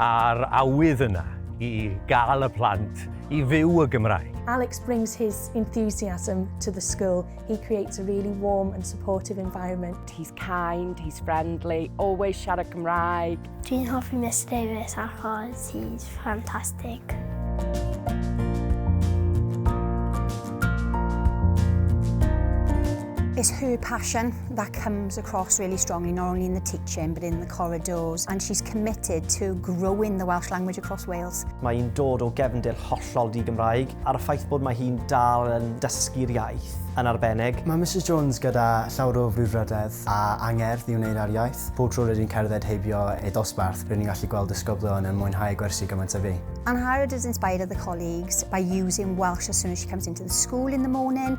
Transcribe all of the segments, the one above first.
A'r awydd yna i gael y plant i fyw y Gymraeg. Alex brings his enthusiasm to the school, he creates a really warm and supportive environment. He's kind, he's friendly, always siarad Gymraeg. Dwi'n hoffi Miss Davies achos he's fantastic. It's her passion that comes across really strongly, not only in the teaching but in the corridors, and she's committed to growing the Welsh language across Wales. Mae hi'n dod o gefndir hollol di-Gymraeg, a'r ffaith bod mae hi'n dal yn dysgu'r iaith yn arbennig. Mae Mrs Jones gyda llawr o frwdfrydedd a angerdd i wneud ar iaith. Pob tro rydyn cerdded heibio ei ddosbarth, rydyn ni'n gallu gweld ysgoblion yn mwynhau gwersi gymaint a fi. Angharad has inspired other colleagues by using Welsh as soon as she comes into the school in the morning,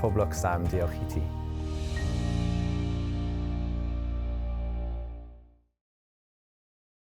Pob lwc Sam, diolch i ti.